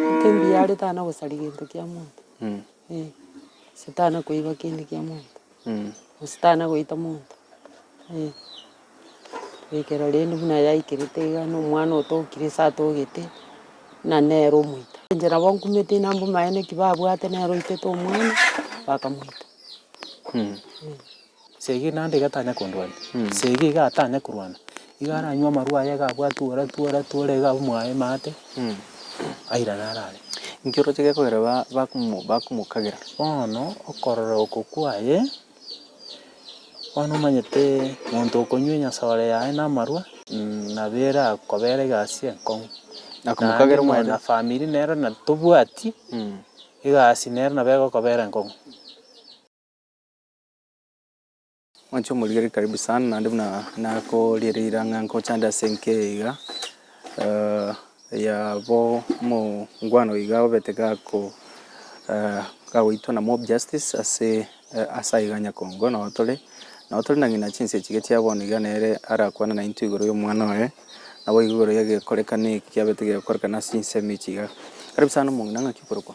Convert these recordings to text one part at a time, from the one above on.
Embiara etana gosaria gento kia monto, eh, gose tana koiba kende kia monto, gose tana goita monto, eh. Goikera rende buna yaikerete iga na omwana otokire ase atogete, buna nere omoito. Inche nabo nkumete inaa mbomaene ki babwate nere oitete omwana, bakamoita, eh. Seegi naende iga tanya kondwania, seegi iga atanya korwana, iga aranywe amarwa aye iga abwate ore tu ore tu ore iga abwe mwaye emate, airane arare. Inki oroche gekogera ba- bakomo- bakomokagera? Bono okorora oko kwaye, bono omanyete monto okonywa enyasore yaye na amarwa, nabo erakobere egasi enkong'u. Nakomokagera Naende omwene. na famiri nero na tobwati, egasi nero nabo egokobera enkong'u. Mwanche omorigereria karibu sana naende buna nakoriereire ang'e nkochande ase enka eye iga eh, ya bo omongwano iga obete gako eh, gagoitwa na mob justice ase eh, ase aye iga nyakongo nao tore nao tore na ng'ina chinsa echi iga chia bono iga nere arakwane naintwe igoro ya omwana oye naboigo igoro ya egekorekano eki kiabete gegokorekana ase ensemo echi iga. Karibu sana omong'ina ng'aki okorokwa?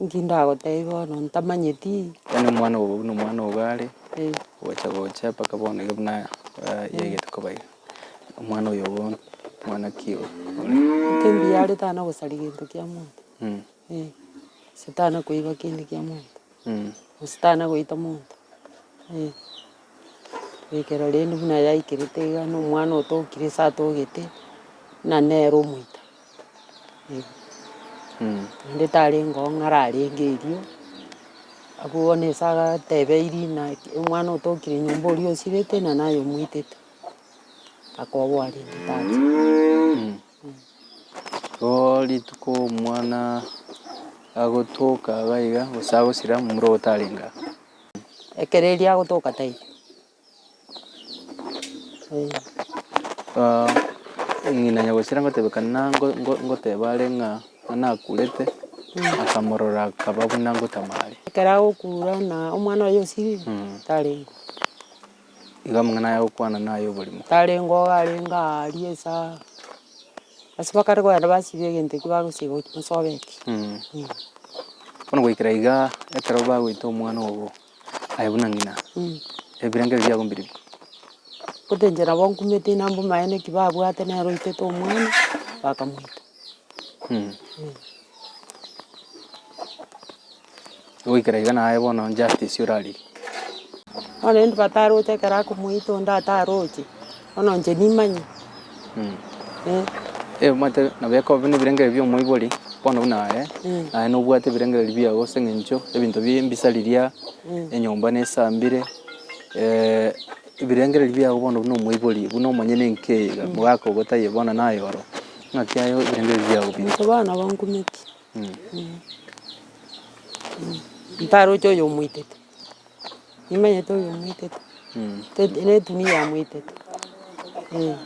Inki ndagotebie bono ntamanyeti? Yaani omwana obo buna omwana obo are Eh, gocha gocha mpaka bono iga buna ah, yaigete koba iga omwana oyo obo omwana ki oyo inki mbiare tana gosari gento kia monto? Mm, Eh, gose tana koiba kende kia monto? mm. Gose tana goita monto? Eh. Goikera rende buna yaikerete iga na omwana otokire ase atogete, buna nere omoika, eh. Naende tarenge oo ng'ara arenge erio, abwo bono ase agateba erina omwana otokire nyomba oria osirete na naye omoitete, akoboa rende tacha. Oo rituko omwana agotoka iga iga, gose agosira momura ogo tarenge aa. Ekero erio agotoka taiyo. Aah ng'ina nyagosira ngotebeka nango ngo- ngoteba are ng'a nakurete, akamorora akaba buna ngotama are. Ekero agokura na omwana oye osibire, tarenge oo. Igo amang'ana aya agokwana naye oborimo. Tarenge oo arenge aa aria ase aa, ase bakare kogenda basiba egento ekio bagosiba gochia gosobeka eki. Bono goikera igaa, ekero bagoita omwana ogo aye buna ng'ina, ebirengo ebio biabo mbiribwo? Gose inche nabo nkumete inaa mbomaye naki babwate nere oitete omwana, bakamoita. Goikera iga naye bono Justice orariri. Bono rende bataroche ekero akomoita onde ataroche, bono inche nimanye. Eh. Omanyete nabo ekoba nebirengererio bi'omoibori, bono buna aye, naye nobwate ebirengererio biago ase eng'encho ebinto bie mbisa riria, enyomba nesambire, ebirengererio biago bono buna omoibori, buna omonyene enki eye iga, omogaka ogo taiyo bono naye oro, ng'aki aye ebirengererio biago binto. Bono nabo nkumeti. Ntaroche oyo omoitete, nimanyete oyo omoitete, teti na etumia yamoitete, eh.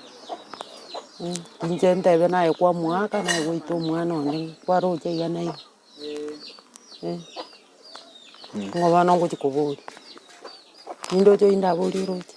Inche ntebe naye kwamoaka naye gwaita omwana onde kwaroche iga na iga, eh. Ng'a bono ngochia koboria, nindoche oyio ndaborie oroche.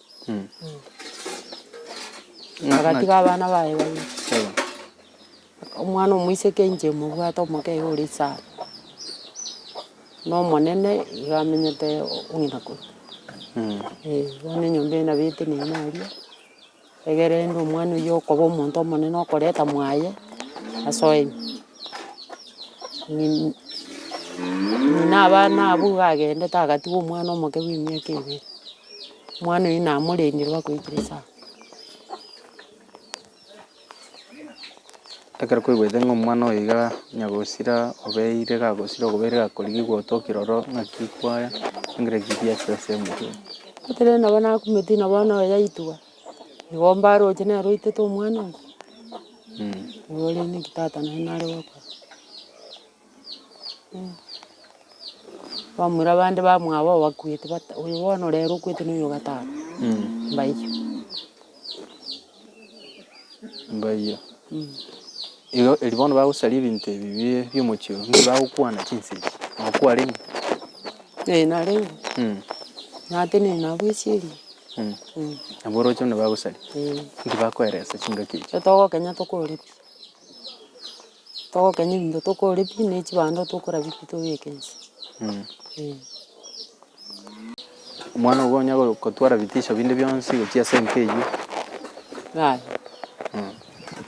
agatiga abana baye babere. Omwana omoiseke inche mobwate omoke iga ore isiko, na omonene iga amenyete ng'ina kore. Eh, bono enyomba eye nabo eteneine aria, egere rende omwana oyio okoba omonto omonene okoreta mwaye asoeni. Ng'ina ng'ina abana abwo iga agendete agatiga omwana omoke bw'emiaka ebere. Omwana oyio namorendire bakoikire saha. Ekero kwaigwete ng'a omwana oyo iga onya gosira obeire gagosira okobeire gakorigigwa otokire ororo ng'aki kwaya chingire chiria ase ase omochie oo. Gotenena nabo nakumeti na bono oyo yaitwa, igo mbaroche nere oitete omwana oye. Igo rende ki tata naye nare gokora. Bamura bande bamwabo abakwete bata oyo bono rero okwete noyo o gatano, mbaiyo. Mbaiyo. Igo eri bono bagosaria ebinto ebi bie biomochie oyo, nigo bagokwana chinsa echi, nabo kwarenge? Ee narenge, natenene nabo esieria. Nabo oroche buna bagosaria? Ee. Inki bakoelesa chingaki echi? Ekero togokenya tokorora pi. Togokenya ebinto tokore pi, ne chibando tokorabia pi tobeke inse. Eh. Omwana obo onya go- gotwara bitisho binde bionsi gochia ase enka eyio. Yaya,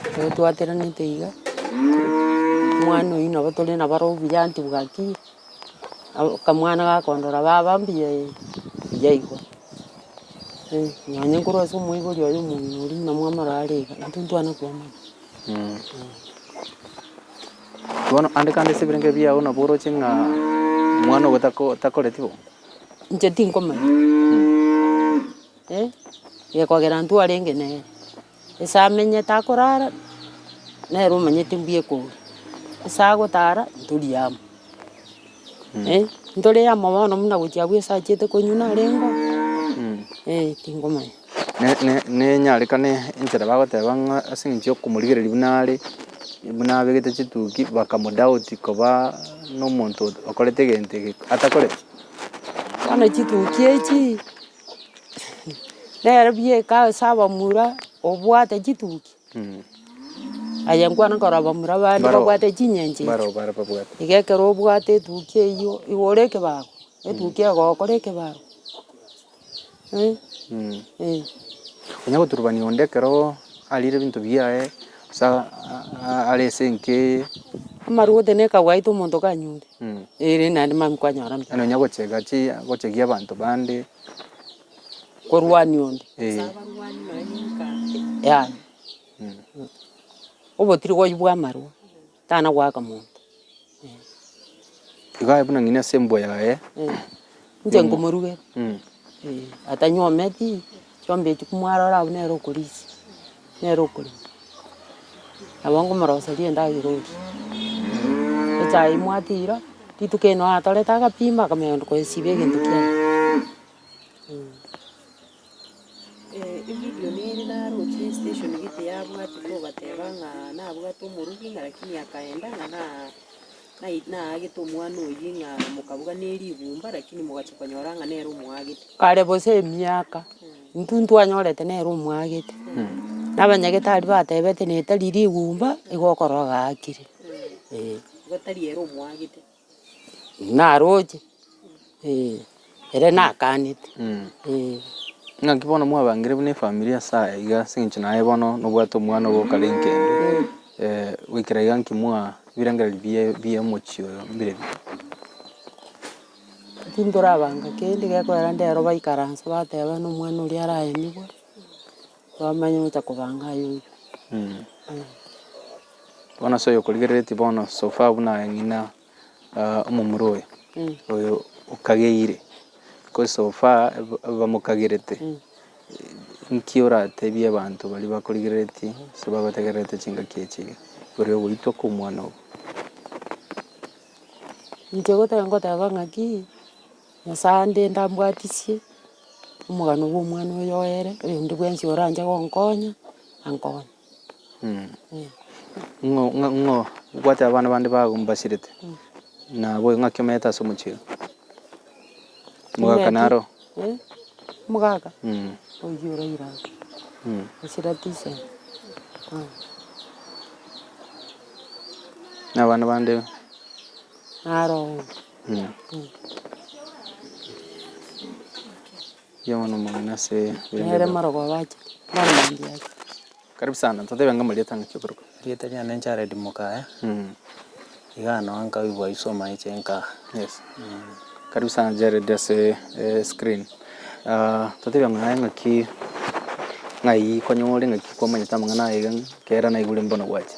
ekero twaterenete iga, omwana oyio nabo tore nabo aro buya anti bwaki, abo- akamwana gakondora baba mbuya eh, mbuya igo. Eh, nonye nkorwa ase omoibori oye omong'ina oria buna mwamorora are iga, intwe ntwana koamanya. Bono andika ande ase ebirengererio biao nabo oroche ng'a omwana ogo tako- takoreti bo. Inche tinkomanya, eh, gekogera intwe arenge nere. Ase amenyete akorara, nere omanyete mbuya ekoira. Ase agotara, ntori amo, eh, ntore amo bono buna gochia abwo esachete konywa narengeo, eh, tinkomanya. nenyarekane enchera bagoteba ng'a ase eng'encho y'okomorigereria buna are, buna abegete chituki bakamodoubt koba nomonto okorete egento eke atakoreti. Bono chituki echi nere bieka ase abamura obwate chituki, aye nkwana korora abamura bande babwate chinyencho echi, iga ekero obwate etuki eyio igo ore ekebago, etuki egokora ekebago. Onya goturubania onde ekero arire ebinto biaye, gose are ase enka eye. Amarwa gose ne ekagwaita omonto kanyure, eh rende naende mambia kwanyora mbuya. Nonya gochega chia, gochegia abanto bande. Korwania onde. Yaya. Obotiiri gwaye bwa amarwa. Tana goaka monto. Igo aye buna ng'ini ase embwa yaye. Inche nkomorugera. Atanyometi, chiombe echio komwarora abwo nere okorisia, nere okorema. Nabo nkomoroseria endagera orie. Echae mwatiira, rituko ere noo atorete agapima akamenya konyesiba egento kiaye. Egideoni ere naroche esiteshoni ere tiyabwati kobateba ng'a nabwate omoruki ng'a rakini akaenda ng'a na nai naagete omwana oyio ng'a mokabuga ne rigumba rakini mogachia konyora ng'a nere omoagete. Kare bosa emiaka, intwe ntwanyorete nere omoagete, na abanyagetari batebete na etari rigumba, igo okoroa gaakire, eh. Igo tari ere omoagete. Naroche, eh, ere nakanete, eh. Naki bono mwabangire buna efamiri ase aya iga ase eng'encho naye bono nobwate omwana obo okare enkende, goikera iga nki mwa ebirengereri bie bi'omochie oyo mbire bi? Tintorabanga kende, gekorera ndero baikaranse bateba nomwana oria araenigwe. Twamanya gocha kobanga aye oyo. Bono ase oyo okorigereretie bono so far buna ng'ina ah, omomura oyo oyo okageire because so far ab- abamokagerete nki oratebie abanto baria bakorigereretie ase bagotegererete chingaki echi iga igoro ya ogoitwa kwa omwana obo Inche goteba ngoteba ng'aki. Nyasae ande ndambwatisie, omogano bw'omwana oyo oere, oyonde bwensi oranche gonkonya, ankonye. Ng'o ng'a ng'o obwate abana bande bago mbasirete, nabo ng'aki omanyete ase omochie oo? Omogaka Omanyete? naro? Eh, omogaka? Mm. Oyio oraire aa. Mm. Esira tisa. Na abana bande? Naro oo. Nere marogo abache, nere mangi ache. Karibu sana totebe ng'a amarieta ang'aki okorokwa. Erieta riane Jared Mukaya, iga ano nkaigwa isoma eche nkaa. Yes. Karibu sana Jared ase screen. Totebe ng'a naye ng'aki ng'ai konyore ng'aki kwamanyete amang'ana aye iga ekero naigure mbono gwache.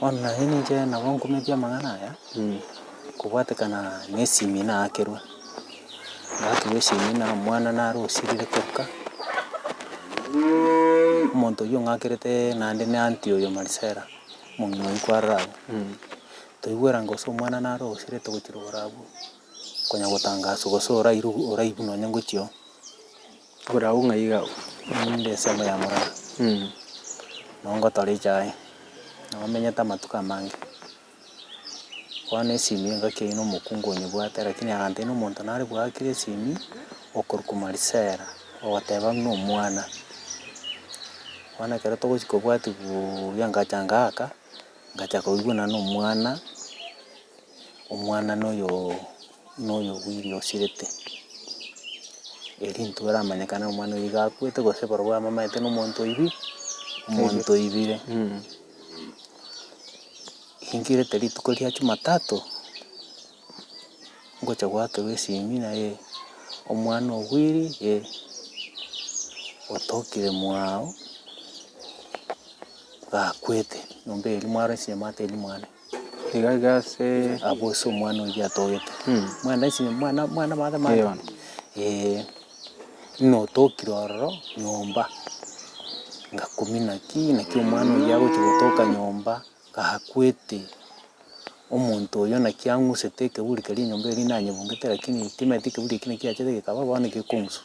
Bono naye ninche nabo nkumeti amang'ana aya, kobwatekana nesimi naakerwa, ngaakerwa esimi na omwana nare osirire koka, omonto oywo ng'akerete naende na aunty oyo Marisela, omong'ina oyio kwaroro abwo. Toigwerango ase omwana nare osirete gochirora abwo, konya gotangaswa gose orairwe oraigwe nonye ngochia oo. Bw'orabu ng'a iga ninde ensemo ya morero, nabo ngotora echa yaye, nabo menyete amatuko amange. Bono esimi engaki eyio nomokungu onyebwate, rakini agantebi nomonto nare bwakire esimi, okorwa kumarisera, ogoteba ng'a buna omwana. Bono ekero togochia kobwati buuya ngacha ngaaka, ngacha koigwa nane omwana, omwana noyooo. noyobwiri osirete, eri intwe aramanyekane ng'a omwana oyo gakwete gose barobwo amamanyete ng'a omonto oibi, omonto oibire. Ingirete rituko ria chumatatu, ngocha goakerwa esimi naye omwana obwiri eh, otokire mwago gakwete, nyomba eria mwaro esime mwatebi mwane. Iga iga ase Abwo ase omwana oyio atogete. Mwana ase mwana mwana mother mother. Eeh bono. Eeh notokire ororo nyomba, ngakumina ki naki omwana oyio agochia gotoka nyomba, gakwete omonto oyio naki ang'usete ekeburi keria enyomba eria nanyebungete lakini timanyete ekeburi ekio naki kiachete kekaba bono gekong'uswa.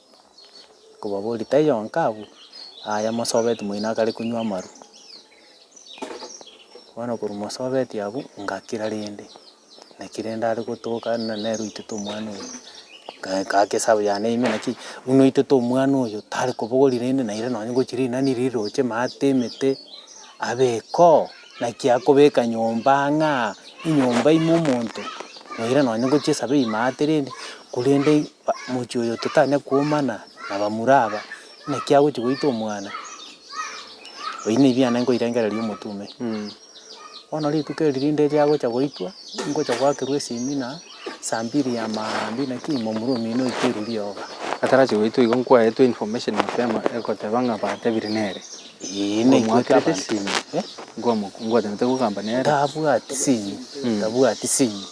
Kobaboria, Taiyo onka abwo? Aye mosobeti moino akare konywa amaru. Bono korwa mosobeti abwo, ngakira rende, naki rende are gotoka ng'a nere oitete omwana oyo. Nkae ngaka esabu yane ime naki, buna oitete omwana oyo, tare kobogori rende naira nonye gochi rinani riroche maate emete, abekoo, naki akobeka nyomba ang'aa, enyomba ime omonto, naira nonye gochia esabu eywo maate rende, korende. Mochie oyo totanya kwomana na bamura aba, naki agochia goita omwana? Oyio nebiane nkoirengereria omotume. Bono rituko eri rinde riagocha goitwa, ningocha goakerwa esemina saa mbiri ya maambia naki momura omino oito erwe rioka. Atarachia goitwa igo nkwaetwe information mapema egoteba ng'a batebire nere. Ee, naitwete Ngomwakerete abanto. sinye. Eh? Ngomo- Ngwatanete gokamba nere. Tabwati sinye, Mm. tabwati sinye.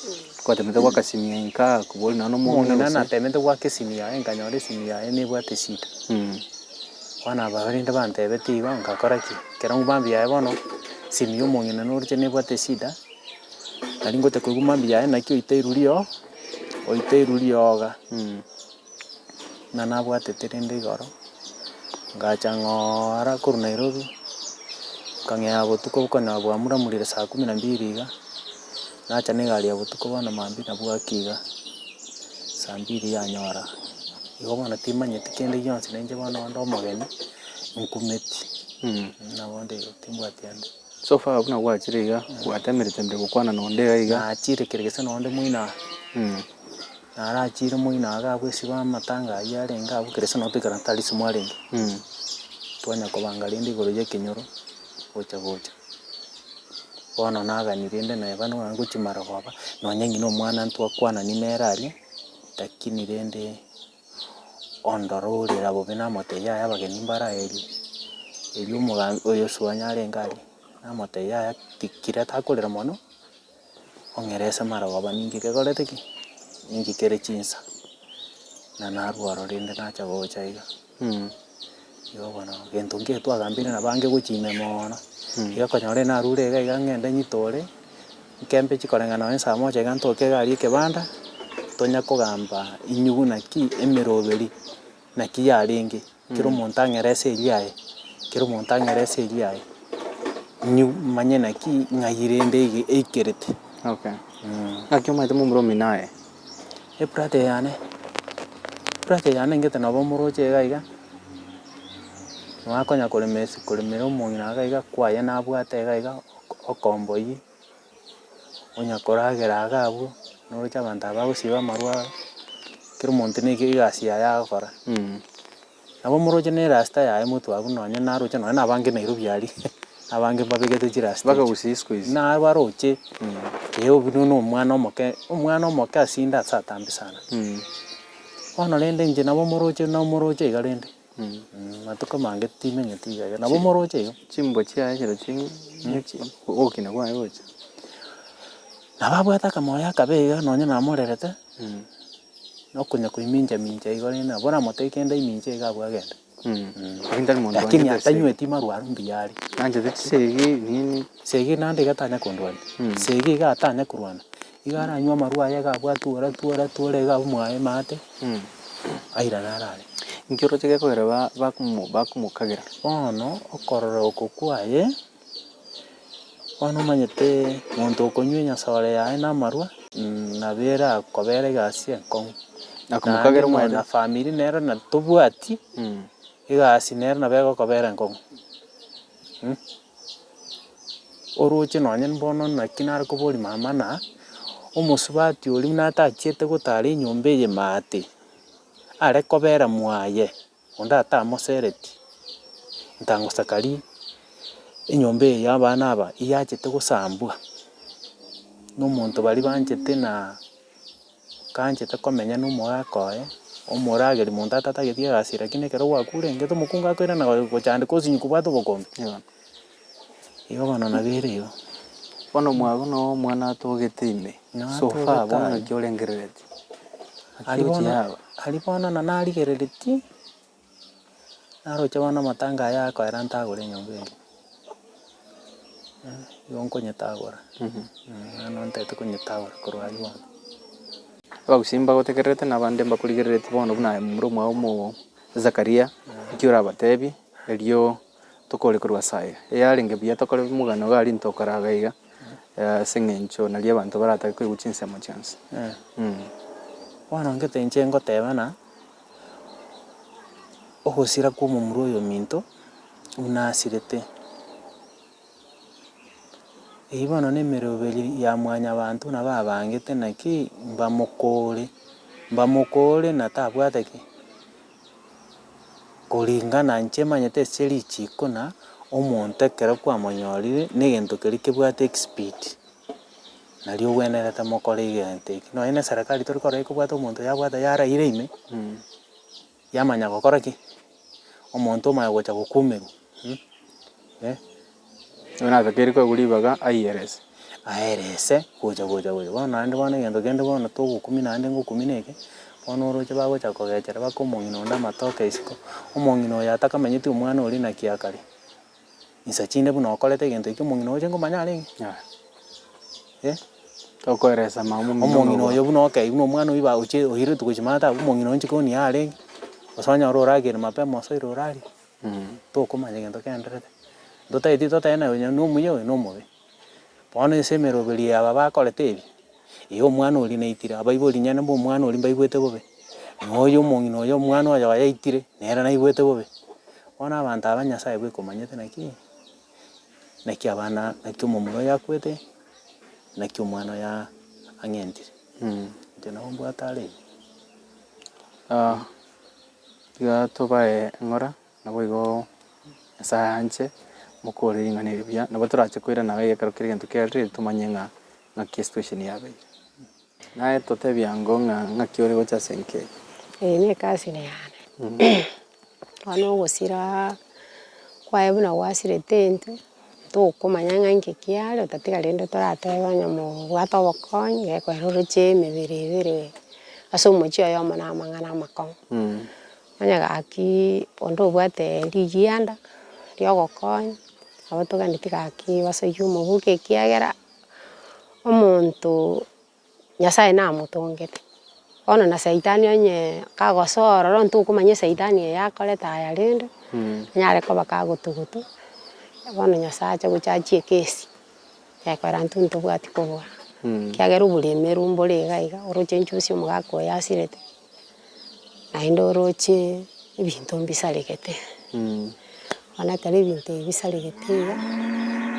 Gwatanete goaka simu yaye nkaa koboria nonye nomong'ina Omong'ina gose. natemete goaka esimu yaye nkanyora esimu yaye nebwate eshida. Mm. Bono abarende bantebete igo ngakora ki? Ekero mambia yaye bono, simu ya omong'ina noroche nebwate eshida, nari ngocha koigwa mambia yaye naki oite iruriogo, oite irurioga. Mm. ng'a nabwatete rende igoro, ngacha ng'oora korwa Nairobi, nkang'ea botuko okona bwamuramurire saa kumi na mbili iga, nacha na egari ya botuko bono maambia na bwaki iga, saa mbili yanyora. Igo bono timanyeti kende gionsi na inche bono onde omogeni, nkumeti mh, nabo onde igo timbwati ande. So far buna gwachire iga, gwatemerete mbe gokwana na onde iga iga. Nachire kere gese na onde moino aa. Narachiire omogina aa gabwo esiba amatanga ayio arenge agwo kera ase notwekana Tarisi mwarenge, twanya kobanga rende igoro y'ekenyoro gocha gocha. Bono nagani rende naye bande buna ngochi marogoba, nonye ng'ina omwana ntwakwanani nere aria, rakini rende ondore orera bobe namotebia yaya abageni mbaraerio, erio omoga oyosubao nyarenge aria, namotebia yaya ti- kira takorera mono. ong'erese amarogoba ninki kekorete ki, ninki kere chinsa, na narwo aro rende nacha gocha iga, igo bono gento nkere twagambeire na bange gochia ime moono, iga okonyora narure iga iga ng'ende nyitore, nkembe chikoreng'ana nonye saa moja iga ntoke egari ekebanda, tonya kogamba inyugu naki emeroberi. Naki yarenge, kera omonto ang'ere ase erio aye, kera omonto ang'ere ase erio aye, nyi manye naki ng'ai rende ege eikerete. Okay. Naki omanyete momura omino aye. Ebrother yane, ebrother yane engete nabo omoroche iga iga, nabo akonya koremesi koremera omong'ina iga iga kwaye nabwate iga iga okomboyie. onya koragera iga abwo, noroche abanto aba bagosiba amarwaro, kera omonto ne egasi yaye agokora. Nabo moroche ne erasita yaye motwabu nonye naroche nonye na abange Nairobi aria, abange mbabegete chirasita echio. Naro baroche, ee obi buna omwana omoke, omwana omoke asinde ase atambe sana. Bono rende inche nabo moroche nabo moroche iga rende. Matuko amange timenyeti iga iga, nabo moroche iga. Chimbo chiaye ekero ching'we, ne chi- ogokina kwaye gocha. Nabo abwate akamoyo akabe iga nonye namorerete, na okonya koimincha mincha igo rende nabo oramotebie kende aiminche iga abwo agende. Lakini tari monto Lakini wanchete esegi. atanyweti marwa aria mbuya are. Nanchete chisegi, nini. Esegi naende iga tanya kondwania, esegi iga atanya korwana, Iga aranywe amarwa aye iga abwate ore atwo ore atwo ore iga abwe mwaye maate, airane are are. Inki oroche gekogera ba- bakomo bakomokagera? Bono okorora oko kwaye, bono omanyete monto okonywa enyasore yaye na amarwa, nabo erakobere egasi enkong'u. Na komokagera omanyete- Naende na famiri nero na tobwati egasi nero nabo egokobera enkong'u. orooche nonye mbono naki nare koboria mamana, omosubati oria buna atachiete gotara enyomba eye maate, are kobera mwaye onde atamosereti, ntangosakari enyomba eye ya abana aba eyachete gosambwa, na omonto baria banchete na. Okanchete komenya nomogaaka oye, omorageri monto atatageti egasi eye, rakini ekero gwakurengete, omokungu akoirana goe gochandeka osinyi kobwate obokombe. Igo bono nabo ere igo. Bono mwago na omwana atogete ime, so far, bono Natogete naki aye. orengereretie. Aria bono, aria bono na narigereretie. Naroche bono amatango aya akoera ntagore enyomba eye, eh, nigo nkonyetagora, bono ntagete konyetagora korwa aria bono. Abagusii mbagotegererete na abande mbakorigerereti bono buna aye momura omwao omogo Zakaria, eki orabatebie, erio tokore korwa ase aye. Eyarenge buya tokore omogano iga aria ntokora iga iga, ase eng'encho naria abanto baratake koigwa chinsemo chionsi. Bono gete inche ngoteba ng'a. ogosira kw'omomura oyominto buna asirete. Eyio bono nemeroberi ya mwanyabanto nabo abangete naki mbamokore, mbamokore na tabwate ki, koringana inche emanyete ase richiko na omonto ekero kwamonyorire, na egento keria kebwate expert. Nari ogwenerete mokore egento eke, nonya na eserekari tori korora ekobwate omonto yabwata yaraire ime, yamanya gokora ki? Omonto omaya gocha gokumerwa mh, eh. Bono natakeire koegwa ribaga aiyerese. Aerese gocha gocha gocha, bono naende bono egento kende bono togokumi naende ngokumi na eke, bono oroche bagocha kogechera baka omong'ina onde amatoke isiko, omong'ina oyo atakamenyeti omwana oria naki akare. insa chinde buna okorete egento ekio omong'ina oche nkomanya are ng'o? Eh. Tokoeresa mama omino Omong'ina noboa. oyo buna okei buna omwana oyio ba oche oirete gochia mata abwo, omong'ina oyo inche koni are ng'o? Gose onye ore oragere mapema gose oire orarie, Mm. tokomanya egento kiaenderete. Totaeti totebe naye onye nomuya oyo nomobe. Bono ense emeroberio y'aba bakorete ebi, eye omwana oria naitire, abaibori inyana b'omwana oria mbaigwete bobe, na oyo omong'ina oyo omwana oyo yaitire, nere naigwete bobe. Bono abanto aba Nyasae bweka omanyete naki, naki abana naki omomura oyo akwete, naki omwana oyo aa ang'entire. Inche nabo mbwate are iga. Igaa tobae eng'ora. Naboigo Nyasae anche mokore ring'ana eri buya, nabo torache koirana gaiga ekero kera egento kiarire tomanye ng'a ng'aki esituesheni yabeire. Naye totebie ango ng'a ng'aki ore gocha ase enka eye. Eye nekasine yane. Bono ogosira kwaye buna gwasirete intwe tokomanya ng'a inki kiare otatiga rende toratebe onye mobwate obokonyi gekorera oroche emebere ebere ase omochie oyomo na amang'ana amakong'u. Onye gaki onde obwate rigianda riogokonya nabo toganeti gaki basoyie omogoka ekiagera omonto nyasaye namotongete bono na saitani onye kagosoa ororo onye tokomanya esaitani eye akorete aya rende nare koba kagotugutu bono nyasaye ache gocha achie ekesi ekorera intwe ntobwati kobua ekiagera oboremeru mbore iga iga oroche nchusie omogaka oyo asirete Naende oroche ebinto mbisaregete, bono ekero ebinto ebi bisaregete iga,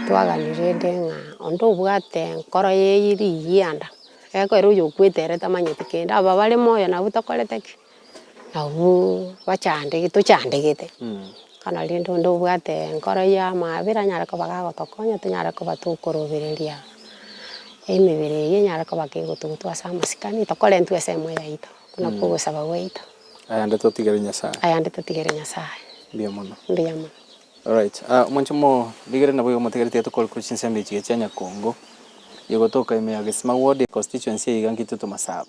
twaganire rende ng'a onde obwate enkoro ye eriyanda, egeko ere oyokwete ere tamanyeti kende, aba bare moyo nabwo tokorete ki? Nabwo bachandegete tochandegete. Kana rende onde obwate enkoro y'amaabera anyare koba gagotokonya, tonyare koba tokorobereria emebere eyio enyare koba kegotugutu ase amasikani, tokorentwe ensemo yaito, okwo nakwo ogosaba gwaito. Ayande totigere Nyasae. Ayande totigere Nyasae. Mbuya mono. Mbuya mono. Alright, ah, mwanche mo rigere nabo igo motigari tiga tokore korwa chinsemo echi chia Nyakongo, ye gotoka ime ya Gesima ward, constituency eye iga nki intwe tomasaba.